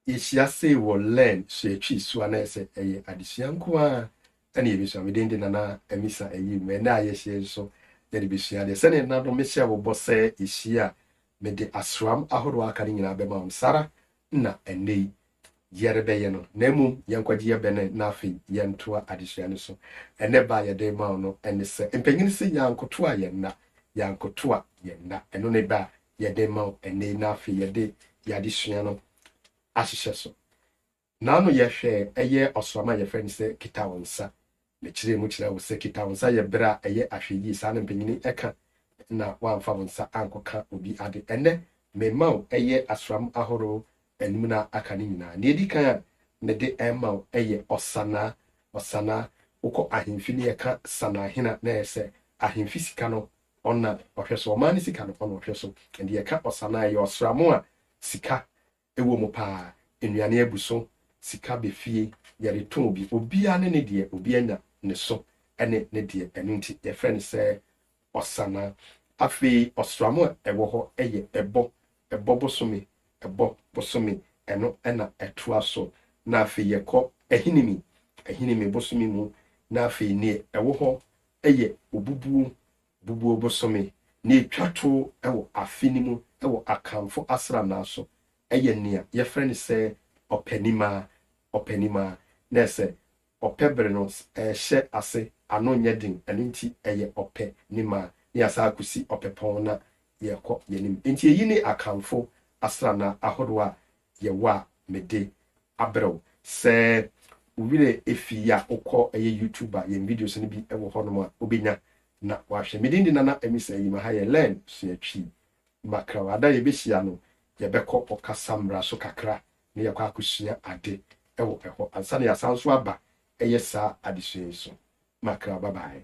Yɛhyia sei wɔ Learn Sua Twi so a na ɛsɛ ɛyɛ adesua nko ara ɛna yɛbɛsua. Me din de Nana Amisa Ayim. Ɛnɛ a yɛhyia yi nso yɛde bɛsua adeɛ. Sɛdeɛ nna no mehyɛ wo bɔ sɛ yɛhyia a mede asram ahorow a aka no nyinaa bɛma wo no, saa ara na ɛnnɛ yi yɛrebɛyɛ no. Na mmom yɛnkɔgye yɛ bɛnɛ na afei yɛntoa adesua no so. Ɛnɛ ba a yɛde rema wo no ɛne sɛ, Mpanyin se yɛankotoa yɛn nna, yɛankotoa yɛn nna. Ɛno ne bɛ a yɛde rema wo ɛnnɛ yi na afei yɛde yɛn adesua no ahyehyɛ so. N'ano yɛhwɛ ɛyɛ ɔsram a yɛfrɛ no sɛ kita wo nsa. Mekyerɛɛ mu kyerɛɛ wo sɛ kita wo nsa yɛ bere a ɛyɛ ahwɛyie, saa na mpanyini ka, na woamfa wo nsa ankɔka obi ade. Ɛnnɛ, merema wo ɛyɛ asram ahorow anum na aka no nyinaa. Nea edi kan a mede rema wo yɛ ɔsanaa. Ɔsanaa, wokɔ ahemfi na yɛka sanaahena na ɛyɛ sɛ ahemfi sika no Ɔna ɔhwɛ so, ɔman ne sika no ɔna ɔhwɛ so, ɛnde yɛka ɔsa no a ɛyɛ ɔsram a sika wɔ mu paa, nnuane abu so, sika bɛ fie, yɛde tɔn bi, obiara ne ne deɛ, obiara nya ne so ne ne deɛ, ɛno nti yɛfrɛ no sɛ ɔsa no. Afei ɔsram a ɛwɔ hɔ yɛ ɛbɔ, ɛbɔ bosome, ɛbɔ bosome, ɛno na ɛtoa so, na afei yɛkɔ ahinime, ahinime bosome mu, na afei neɛ ɛwɔ hɔ yɛ obubuo bubuo bosome na ɛtwa to wɔ afe no mu wɔ Akanfo asranna so. Ɛyɛ nea yɛfrɛ no sɛ Ɔpɛnimaa, Ɔpɛnimaa, na ɛsɛ Ɔpɛ bere no ɛrehyɛ ase, ano nyɛ den, ɛno nti ɛyɛ Ɔpɛ nimaa na yɛasan akosi Ɔpɛpɔn na yɛrekɔ yɛn anim. Enti eyi ne Akanfo asranna ahorow a yɛwɔ a mede abrɛw sɛ wo werɛ afi yi a wokɔ ɛyɛ YouTube a yɛn videos no bi wɔ hɔ nom a wobɛnya na wahwɛ. Me din de Nana Amisa Ayima ha yɛ Learn Sua Twi Makra wɔ ada a yɛbɛhyia no yɛbɛkɔ ɔkasa mmara so kakra na yɛakɔ akɔsua ade wɔ ɛhɔ ansa na yɛasan nso aba ɛyɛ saa adesua yi so makra bye bye.